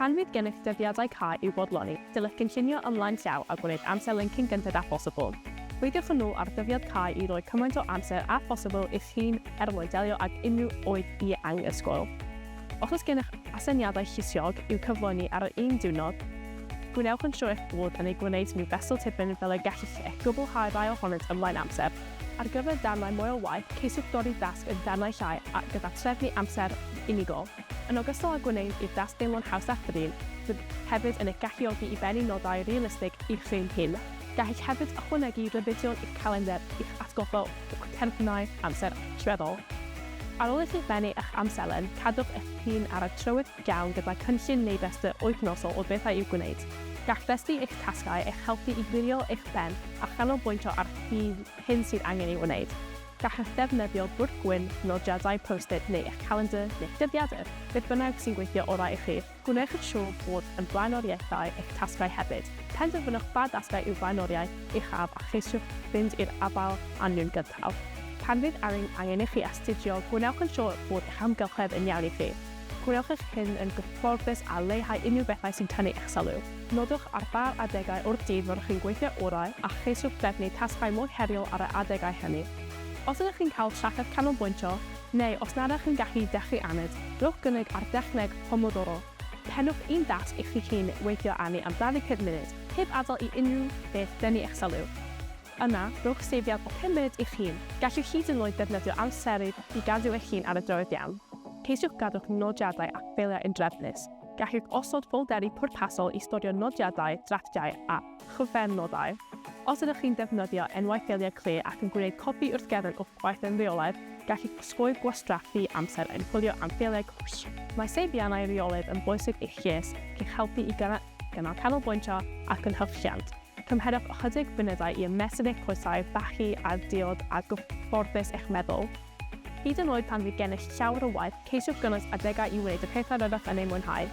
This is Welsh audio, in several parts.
Pan fydd gennych dyddiadau cau i'w bodloni, dylech gynllunio ymlaen llaw a gwneud amserlen cyn gynted â phosibl. Peidiwch â nhw ar ddyddiad cau i roi cymaint o amser â phosibl i'ch hun er mwyn delio ag unrhyw oedd i anghysgwyl. Os oes gennych aseiniadau llysiog i'w cyflawni ar yr un diwrnod, gwnewch yn siŵr eich bod yn eu gwneud nhw fesul tipyn fel y gellech gwblhau'r rhai ohonynt ymlaen amser. Ar gyfer darnau moel waith, ceisiwch dorri'r dasg yn darnau llai a gyda threfnu amser unigol. Yn ogystal â gwneud i'r dasg deimlo'n haws a thrin, bydd hefyd yn eich galluogi i bennu nodau realistig i chi'ch hun. Gallech hefyd ychwanegu rhybuddion i'ch calendr i'ch atgoffa o'ch terfynau amser allweddol. Ar ôl i chi bennu eich amserlen, cadwch eich hun ar y trywydd iawn gyda cynllun neu restr wythnosol o bethau i'w gwneud. Gall rhestru eich tasgau eich helpu i wirio eich pen a chanolbwyntio ar hyn sydd angen ei wneud. Gallwch ddefnyddio bwrdd gwyn, nodiadau Post-it neu eich calendr neu'ch dyddiadur, beth bynnag sy'n gweithio orau i chi. Gwnewch yn siŵr bod yn flaenoriaethau eich tasgau hefyd. Penderfynwch ba dasgau yw'r flaenoriaeth uchaf a cheisiwch fynd i'r afael â nhw'n gyntaf. Pan fydd angen i chi astudio, gwnewch yn siŵr bod eich amgylchedd yn iawn i chi. Gwnewch eich hyn yn gyfforddus a leihau unrhyw bethau sy'n tynnu eich sylw. Nodwch ar ba adegau o'r dydd fyddwch chi'n gweithio orau a cheisiwch drefnu tasgau mwy heriol ar y adegau hynny. Os ydych chi'n cael trafferth canolbwyntio, neu os nad ydych chi'n gallu dechrau aned, rhowch gynnig ar dechneg Pomodoro. Pennwch un dasg i chi'ch hun weithio arni am 25 munud, heb adael i unrhyw beth dynnu eich sylw. Yna, rhowch seibiant o pum munud i'ch hun. Gallwch hyd yn oed ddefnyddio amserydd i gadw eich hun ar y drywydd iawn. Ceisiwch gadw'ch nodiadau a ffeiliau yn drefnus. Gallwch osod ffolderi pwrpasol i storio nodiadau, drafftiau a chyflenodau. Os ydych chi'n defnyddio enwau ffeiliau clir ac yn gwneud copi wrth gefn o'ch gwaith yn reolaidd, gallwch osgoi gwastraff rhy amser yn chwilio am ffeiliau gwell. Mae seibiannau reolaidd yn bwysig i'ch lles, i'ch helpu i gynnal canolbwyntio a chynhyrchiant. Cymherwch ychydig funudau i ymestyn eich coesau, bachu a'r diod a gyfforddus eich meddwl. Hyd yn oed pan fydd gennych llawer o waith, ceisiwch gynnwys adegau i wneud y pethau rydych yn eu mwynhau.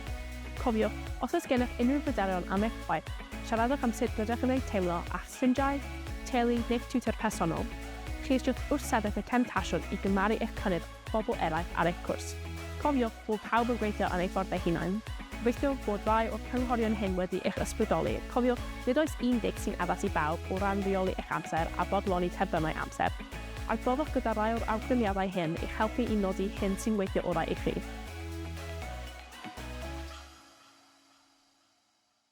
Cofiwch, os oes gennych unrhyw bryderon am eich gwaith, siaradwch am sut rydych yn eu teimlo â'ch ffrindiau, teulu neu'ch tiwtor personol. Ceisiwch wrthsefyll y temtasiwn i gymharu eich cynnydd pobl eraill ar eich cwrs. Cofiwch bod pawb yn gweithio ar eu ffordd eu hunain. Gobeithio bod rhai o'r cynghorion hyn wedi eich ysbrydoli. Cofiwch, nid oes un deg sy'n addas i bawb o ran rheoli eich amser a bodloni terfynau amser. Adroddwch gyda rhai o'r awgrymiadau hyn i'ch helpu i nodi hyn sy'n weithio orau i chi.